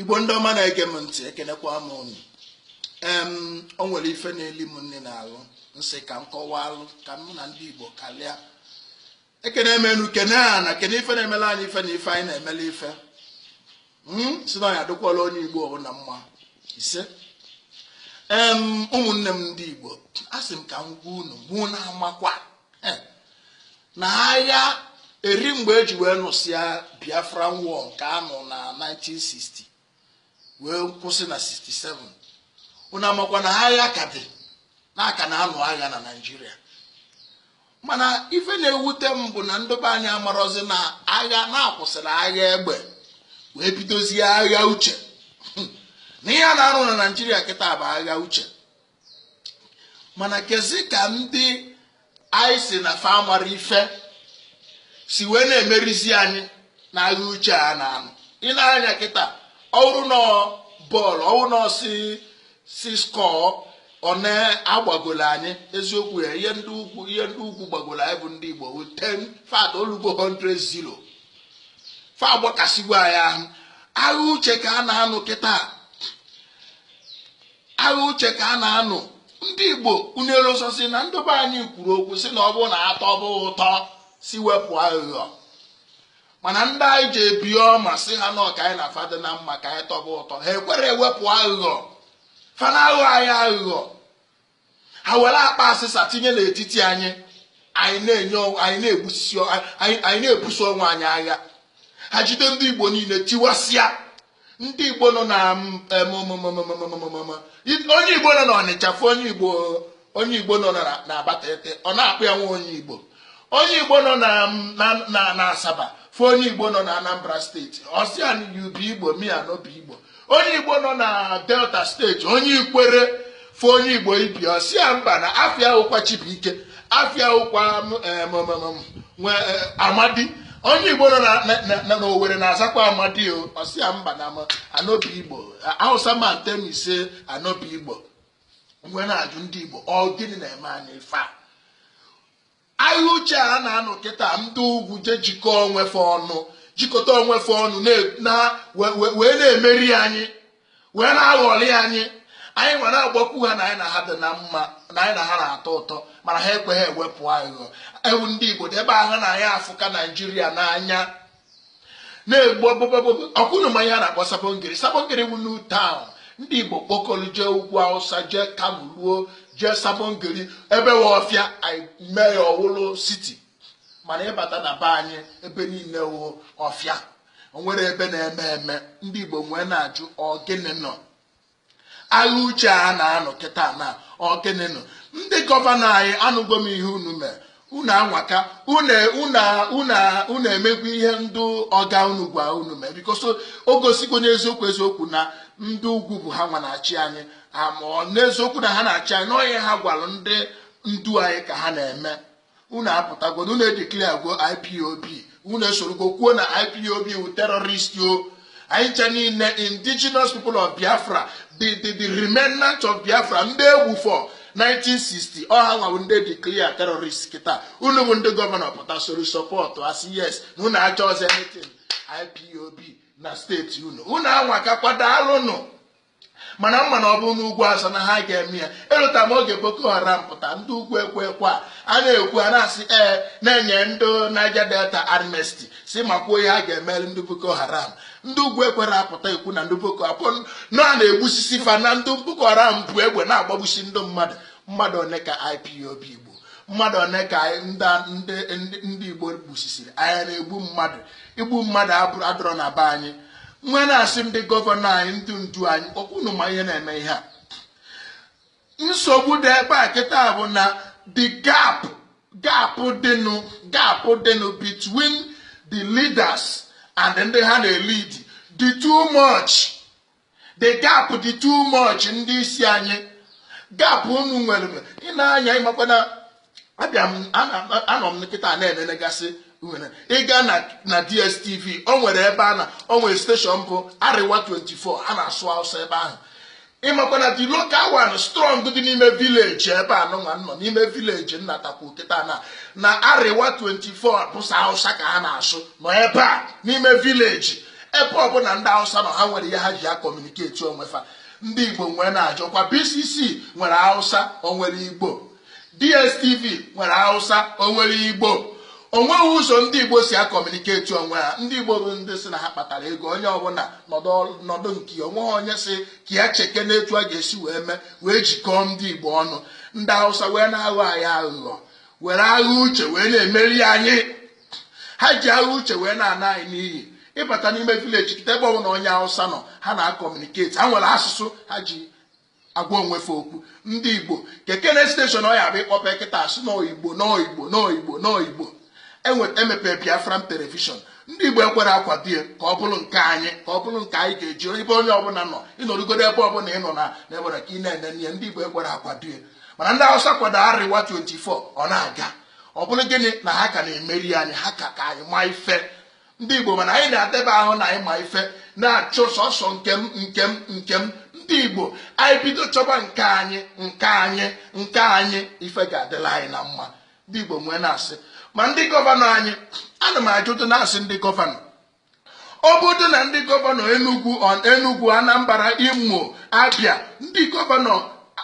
igbo ndị ọma na-ege m ntị ekenekwa m unu em o nwere ife na-eli m nni n'arụ m sị ka m kọwaalụ ka mụ na ndị igbo karịa ekene m enu kene ana kene ife na-emelụ anyị ife na ife anyị na-emelụ ife m sị na ọ ya-adịkwalụ onye igbo ọbụla mma ise em ụmụnne m ndị igbo a sị m ka m gwa unu ma unu amakwa na agha eri mgbe eji wee nụsịa biafra war nke a nụ na 1960 wee kwụsị na 67 unu amakwa na agha ka dị na a ka na-anụ agha na naijiria mana ife na-ewute m bụ na ndị be anyị amarozi na agha na a kwụsịrị agha egbe wee bidozie agha uche na ihe a na-anụ na naijiria kịta bụ agha uche mana kezi ka ndị anyị sị na fa amarọ ife si wee na-emerizi anyị na agha uche a na-anụ i nee anya kịta ọ wụrụ na ọ bọọlụ ọ wụrụ na a sị sị skọọ one a gbagolo anyị eziokwu ya ihe ndị ugwu ihe ndị ugwu gbagolo anyị bụ ndị Igbo wụ ten in fact o lugo 100 zero fa agbakasịgwo anyị ahụ agha uche ka a na-anụ kịta agha uche ka a na-anụ ndị igbo unu erozosi na ndị be anyị kwuru okwu sị na ọ bụ na a tọba ụtọ sị wepụ aghụghọ mana ndị anyị ji obi ọma sị ha na ọ ka anyị na fa dị na mma ka anyị tọba ụtọ ha ekwerọ ewepụ aghụghọ fa na-aghọ anyị aghụghọ ha were akpa asịsa tinye n'etiti anyị anyị na-enye anyị na-egbusisi anyị na-ebuso onwe anyị agha ha jide ndị igbo niile tiwasịa ndị igbo nọ na onye igbo nọ na ọnịcha fụ onye igbo onye igbo nọ na abatete ọ na-akpọ ya nwa onye igbo onye igbo nọ na asaba fụ onye igbo nọ na anambra steeti ọ sị ya you be igbo me i no be igbo onye igbo nọ na delta steeti onye ikwere fụ onye igbo ibe ya ọ sị ya mba na afa ya wụkwa chibuike afa ya wụkwa nwe e, amadi onye igbo nọ na owere na-azakwa amadi ọ sị ya mba na i no be igbo hausa man tell me say i no be igbo m wee na-ajụ ndị Igbo ọ gịnị na-eme anyị ife a agha uche a na-anụ kịta ndị ugwu jee jikọọ onwe fa ọnụ jikọta onwe fa ọnụ wee na-emeri anyị wee na-aghọli anyị anyị wee na-agbakwu ha na anyị na ha dị na mma na anyị na ha na-atọ ụtọ mana ha ekweghị ewepụ aghụghọ ewuu ndị Igbo ndị be anyị na anyị afụka Naijiria n'anya na-egbu o ọ kwa unu ma ihe a na-akpọ sabon gari sabon gari wụ new town ndị igbo kpokọrọ jee ugwu awụsa jee kano ruo jee sabon gari ebe wụ ọfịa mee ya ọ wụlụ siti mana ị bata na be anyị ebe niile wụ ọfịa o nwere ebe na-eme eme ndị igbo m wee na-ajụ ọ gịnị nụ agha uche a na-anụ kịta na ọ gịnị nụ ndị gọvanọ anyị anụgo m ihe unu mere unu anwaka unu emegwo ihe ndị ọga unu gwa unu mee because o gosigo n'eziokwu eziokwu na ndị ugwu bụ ha nwa na-achị anyị a ma n'eziokwu na ha na-achị anyị na ọ ihe ha gwalụ ndị ndu anyị ka ha na-eme unu apụtagwo na unu edeclaregwo ipob unu esorugwo kwuo na ipob wụ terrorist ọ anyị ncha niile indigenous people of biafra the the the remnant of biafra ndị e gbufọ 1960 ọ ha nwa wụ ndị declare terrorist kịta unu bụ ndị gọvanọ pụta soro sọpọtụa sị yes na unu achọzị anything ipob na steeti unu unu anwakakwa daalụnụ mana m ma na ọ bụrụ n'ugwu awụsa na ha ga-eme ya elota m oge boko haram pụta ndị ugwu ekwe ekwe a a na-ekwu a na-asị ee na-enye ndị Niger Delta amnesty sị makwuo ihe a ga-emelụ ndị boko haram ndị ugwu ekwere apụta ekwu na ndị boko haram na a na-egbusisi fa na ndị boko haram bu egbe na-agbagbusi ndị mmadụ mmadụ one ka IPOB gburu mmadụ one ka ndị Igbo gbusisiri anyị a na-egbu mmadụ igbu mmadụ adịrọ na be anyị m wee na-asị ndị gọvanọ anyị ndị ndu anyị ọ kwa unu ma ihe na-eme ihe a nsogbu dị ebe a kịta bụ na the gap gap dịnụ gap dịnụ between the leaders and ndị ha na-elid dị too much the gap dị too much ndị isi anyị gap unu nwere ị na-anya ị makwa na abịa m anọ m kịta na-enenegasị ị gaa na dstv o nwere ebe a na o nwere steshọn bụ arewa 24 a na-asụ awụsa ebe ahụ ị makwa na the local one strong dị n'ime vileji ebe a nụnwa nọ n'ime vileji n'atakwu kịta na na arewa 24 bụ sọ hausa ka ha na-asụ nọ ebe a n'ime vileji ebe ọbụla ndị hausa nọ ha nwere ihe ha ji akọmuniketi onwe fa ndị igbo m wee na-ajụkwa bcc nwere hausa o nwere igbo DSTV nwere Hausa o nwere Igbo onweghị ụzọ ndị Igbo si akọmuniketi onwe ha ndị Igbo bụ ndị sị na ha kpatara ego onye ọbụla nọdụ nke ya onweghị onye sị ka ya chekene etu a ga-esi wee mee wee jikọọ ndị Igbo ọnụ ndị Hausa wee na-aghọ anyị aghụghọ were agha uche wee na-emeri anyị ha ji agha uche wee na-ana anyị n'iyi ị bata n'ime vileji kịta ebe ọbụla onye Hausa nọ ha na-akọmuniketi ha nwere asụsụ ha ji agwa onwe fa okwu ndị igbo kekene steshọn ọ ya-abụ ị kpọpe kịta asụ n'oyibo n'oyibo n'oyibo n'oyibo e mepee biafran telivishọn ndị igbo ekwerọ akwado ya ka ọ bụrụ nke anyị ka ọ bụrụ nke anyị ga-eji ebe onye ọbụla nọ ị nọrọgodu ebe ọbụla ị nọ na n'ebere ka ị na-enene ya ndị igbo ekwerọ akwado ya mana ndị awụsa kwado arewa 24 ọ na-aga ọ bụrụ gịnị na ha ka na-emeri anyị ha ka ka anyị ma ife ndị igbo mana anyị na-edebe ahụ na anyị ma ife na-achụ sọsọ nke m nke m nke m ndị igbo anyị bido chọba nke anyị nke anyị nke anyị ife ga-adịla anyị na mma ndị igbo m wee na-asị ma ndị gọvanọ anyị ana m ajụtụ na-asị ndị gọvanọ ọ bụrụ na ndị gọvanọ enugwu enugwu anambra imo abia ndị gọvanọ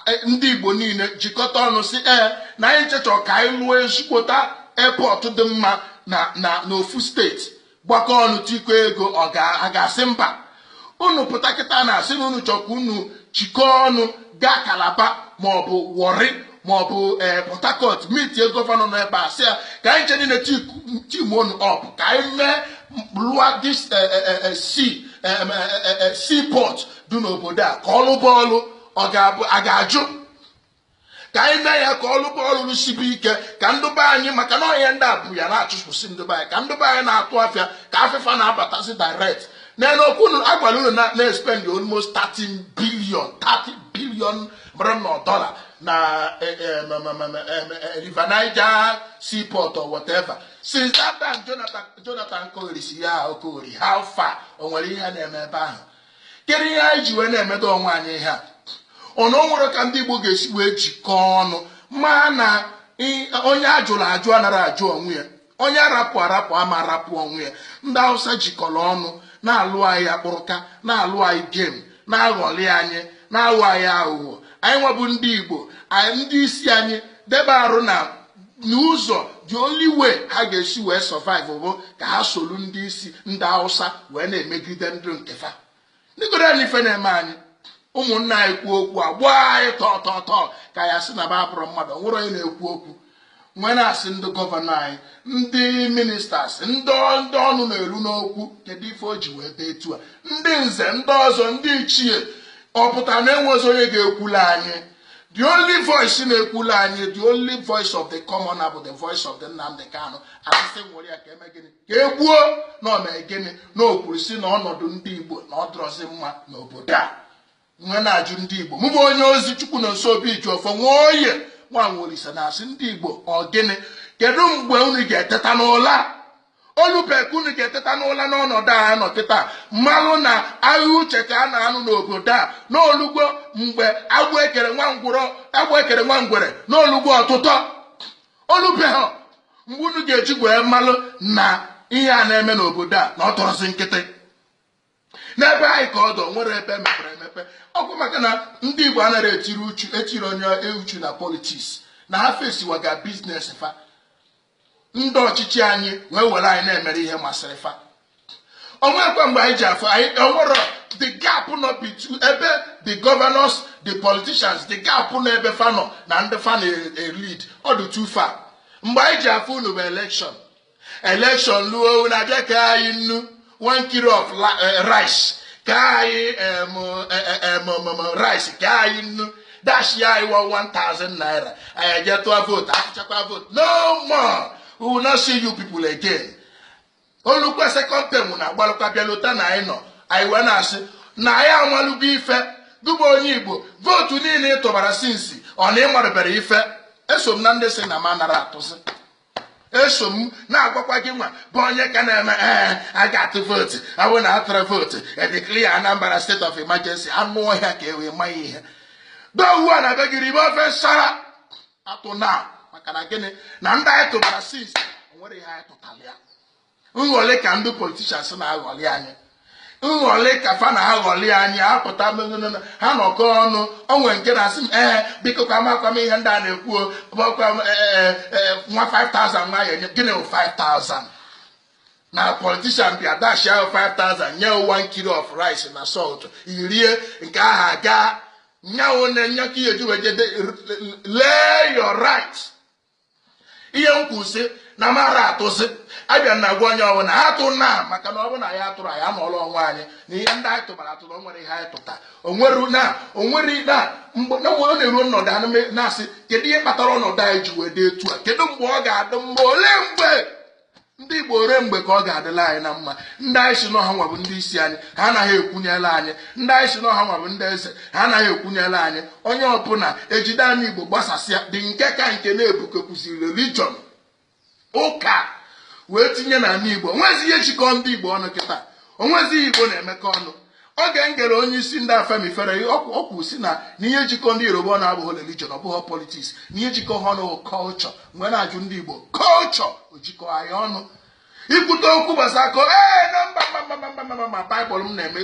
e, ndị Igbo niile jikọta ọnụ si ee na anyị ncha chọ ka anyị lụọ ezigbote airport dị mma na na n'ofu steeti gbakọ ọnụ tikọ ego a ga-asị mba unu pụta kịta na-asị na unu chọ ka unu jikọọ ọnụ gaa calabar maọbụ warri maọbụ ee eh, port harcourt meetie gọvanọ nọ ebe a sị ya ka anyị ncha niile team ọnụ up ka anyị mee lụa this eh, eh, sea seaport dị n'obodo a ka ọ lụba ọlụ ọ ga-abụ a ga-ajụ ka anyị mee ya ka ọ lụba ọlụ ọlụ sibe ike ka ndị be anyị maka na ihe ndị a bụ ya na-achụpụsị ndị be anyị ka ndị be anyị na-atụ afịa ka afịa fa na-abatazi direct n'elu okwu unu a gwara unu na- na-espend almost 30 billion 30 billion mara na dọla na eh, eh, ma- ma- ma- ma- eh, ma- eh, river niger seaport or whatever since that time jonathan jonathan kọgherisịa ọkọgheri how far o nwere ihe na-eme ebe ahụ kedu ihe anyị ji wee na-emedu onwe anyị ihe a ọ na o nwerọ ka ndị Igbo ga-esi wee jikọọ ọnụ ma na i- onye a jụrụ ajụ anarọ ajụ onwe ya onye a rapụ arapụ ama arapụ onwe ya ndị Hausa jikọrọ ọnụ na-alụ anyị akpụrụka na-alụ anyị game na-aghọli anyị na-aghọ anyị aghụghọ anyị nwa bụ ndị Igbo ndị isi anyị debe arụ na n'ụzọ the only way ha ga-esi wee survive bụ ka ha soro ndị isi ndị Hausa wee na-emegide ndị nke fa ndịgoro anyị ife na-eme anyị ụmụnna anyị kwuo okwu a gbaa anyị tọọ tọọ tọọ ka a ya-asị na ba abụrọ mmadụ o nwerọ onye na-ekwu okwu m wee na-asị ndị gọvanọ anyị ndị ministers ndị ndị ọnụ na-eru n'okwu kedu ife o ji wee dị etu a ndị nze ndị ọzọ ndị ichie ọ pụtara na enwezi onye ga-ekwulu anyị the only voice na-ekwulu anyị the only voice of the commoner bụ the voice of the Nnamdi Kanu a sị sị nwere ya ka e mee gịnị ka e gbuo na o mee gịnị na o kwuru si na ọnọdụ ndị Igbo na ọ dịrọzi mma n'obodo a m wee na-ajụ ndị Igbo mụ bụ onye ozi Chukwunọnso Obijiọfọ Nwaoye nwa Nwaolisa na-asị ndị Igbo ọ gịnị kedu mgbe unu ga-eteta n'ụla O lube ka unu ga-eteta n'ụla n'ọnọdụ a anọ kịta malụ na agha uche ka a na-anụ n'obodo a na o lugo mgbe agbụ e kere nwa ngwụrọ agbụ e kere nwa ngwere na o lugo ọtụtọ o lubehọ mgbe unu ga-eji wee malụ na ihe a na-eme n'obodo a na ọ tọrọzi nkịtị n'ebe anyị ka ọ dị o nwere ebe mepere emepe ọ kwa maka na ndị igbo anaghị etinye uchu na politics na ha fesiwaga business fa ndị ọchịchị anyị wee were anyị na-emere ihe masịrị fa o nwekwa mgbe anyị ji afụ anyị o nwere the gap nọ between ebe the governors the politicians the gap nọ ebe fa nọ na ndị fa na-elead ọ dị too far mgbe anyị ji afụ unu bụ election election luo na abịa kee anyị nnu one kilo of eh, rice kee anyị rice kee anyị nnu dashi anyị 1000 naira anyị eje tụọ vote a tụchakwa vote no more we will not see you people again o lukwe second term na agbalụkwa bịa lota na anyị nọ anyị wee na-asị na anyị amalugo ife gị bụ onye igbo vote niile ị tụbara since ọ na ị marụberọ ife eso m na ndị sị na m anara atụzi eso m na-agwakwa gị nwa bụ onye ka na-eme ee eh, a ga-atụ vote ọ bụ na atụrọ vote e declare Anambra state of emergency anụ ọhịa ka i wee ma ihe dọwa na be gị ribe ofe nsara atụna maka na gịnị na ndị anyị tụbara since o nwere ihe anyị tụtara ya nghọlị ka ndị politicians na-aghọlị anyị nghọlị ka fa na-aghọlị anyị a pụta ha anọkọ ọnụ o nwe nke na-asị m ee biko ka amakwa m ihe ndị a na-ekwuo gbakwa m e, e, e, nwa 5000 nwa ya enye gịnị 5000 na politician bịa dashia gị 5000 nye gị one kilo of rice na salt i rie nke ahụ a gaa nya wụ na nya ka i ji wee je lee your right ihe m kwuru sị na m anara atụzi abịa m na-agwa onye ọbụla atụna maka na ọ bụ na anyị atụrọ anyị anọọla onwe anyị na ihe ndị anyị tụbara atụ na o nwere ihe anyị tụta onwere na onwere na mgbe na mgbe ọ na-eru m nọdụ anị na-asị kedu ihe kpatara ọnọdụ anyị ji wee dị etu a kedu mgbe ọ ga-adị mma olee mgbe ndị igbo olee mgbe ka ọ ga-adịla anyị na mma ndị anyị sị na ha nwa bụ ndị isi anyị ha anaghị ekwunyela anyị ndị anyị sị na ha nwa bụ ndị eze ha anaghị ekwunyela anyị onye ọbụla ejide anị igbo gbasasịa dị nke ka nke na e butekwuziri religion ụka wee tinye n'anị igbo o nwezighị ihe jikọ ndị igbo ọnụ kịta o nwezighị ihe igbo na-emekọ ọnụ Oge m gere onye isi ndị Afenifere okwu sị na ihe jikọ ndị Yoruba ọnụ abụghị religion ọ bụghị politics na ihe jikọ ha ọnụ culture m wee na-ajụ ndị Igbo culture o jikọ anyị ọnụ i kwute okwu gbasara ko ee na mba mba ma baịbụl m na-eme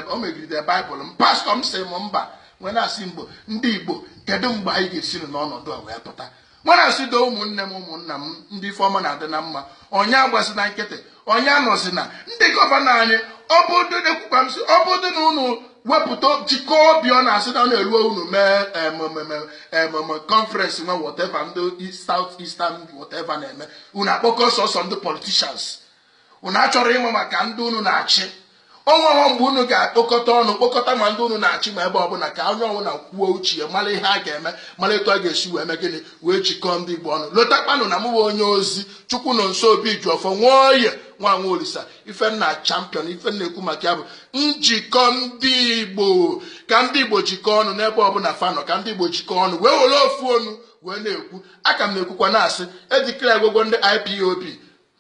o megide baịbụl m pastọ m sị m mba m wee na-asị mgbo ndị Igbo kedu mgbe anyị ga-esi n'ọnọdụ a wee pụta mana asị do ụmụnne m ụmụnna m ndị ife ọma na-adị na mma onye agbazina nkịtị onye anọzina ndị gọvanọ anyị ọ bụdụ na ekwukwa m sị ọ bụdụ na unu wepụta jikọọ obi ọ na-asị na ọ na-eruo unu mee conference nwe whatever ndị south eastern whatever na-eme unu akpọkọ sọsọ ndị politicians unu achọrọ ịma maka ndị unu na-achị onweghọ mgbe unu ga-akpọkọta ọnụ kpọkọta ma ndị unu na-achị ma ebe ọbụla ka onye ọbụla kwuo uche ya mara ihe a ga-eme mara etu a ga-esi wee mee gịnị wee jikọọ ndị Igbo ọnụ lotakwanụ na mụwa onye ozi Chukwunọnso Obijiọfọ Nwoye nwa nwa olisa ife m na champion ife m na-ekwu maka ya bụ njikọ ndị Igbo ka ndị Igbo jikọọ ọnụ n'ebe ọbụla fanọ ka ndị Igbo jikọọ ọnụ wee were ofu onu wee na-ekwu a ka m na-ekwukwa na-asị e declaregokwa ndị IPOB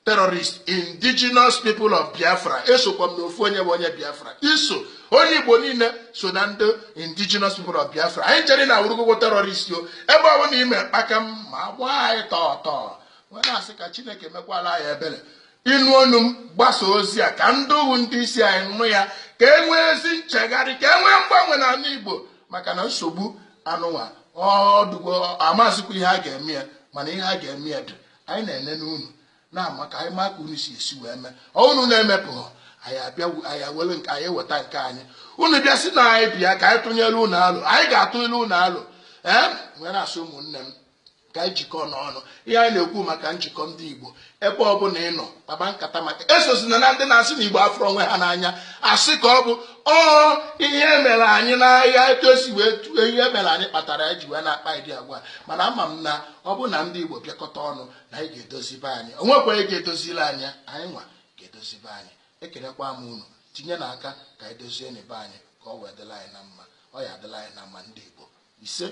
terrorist indigenous people of biafra esokwa m na ofu onye bụ onye biafra i so onye igbo niile so na ndị indigenous people of biafra anyị chere na awụrụgokwa terrorist o ebe ọ bụ na i mee kpakam a gbaa anyị tọọ tọọ wee na-asị ka chineke mekwala anyị ebere ị nụ onu m gbasa ozi a ka ndị wụ ndị isi anyị nụ ya ka e nwee ezi nchegharị ka e nwee mgbanwe n'ala igbo maka na nsogbu anụnwa ọdụgo amazikwa ihe a ga-eme ya mana ihe a ga-eme ya dị anyị na-enene unu na-ama ka anyị maa ka unu si esi wee mee ọ unu na-emepụghọ anyị abịa anyị ewere nke anyị eweta nke anyị unu bịa sị na anyị bịa ka anyị tụnyere unu alo anyị ga-atụnyere unu alo ee wee na-asị ụmụnne m ka anyị jikọọ n'ọnụ ihe anyị na-ekwu maka njikọ ndị igbo ebe ọ bụla ị nọ kpaba nkata maka esozina na ndị na-asị na igbo afụrọ onwe ha n'anya asị ka ọ bụ ọ ihe mere anyị n'aya etu e si wee tue ihe mere anyị kpatara anyị ji wee na-akpa ụdị agwa mana ama m na ọ bụrụ na ndị Igbo bịakọta ọnụ na anyị ga-edozi be anyị o nwekwa onye ga-edozili anyị anyị nwa ga-edozi be anyị ekelekwa m unu tinyenụ aka ka anyị dozienụ be anyị ka ọ wee dịla anyị na mma ọ ya-adịla anyị na mma ndị Igbo isee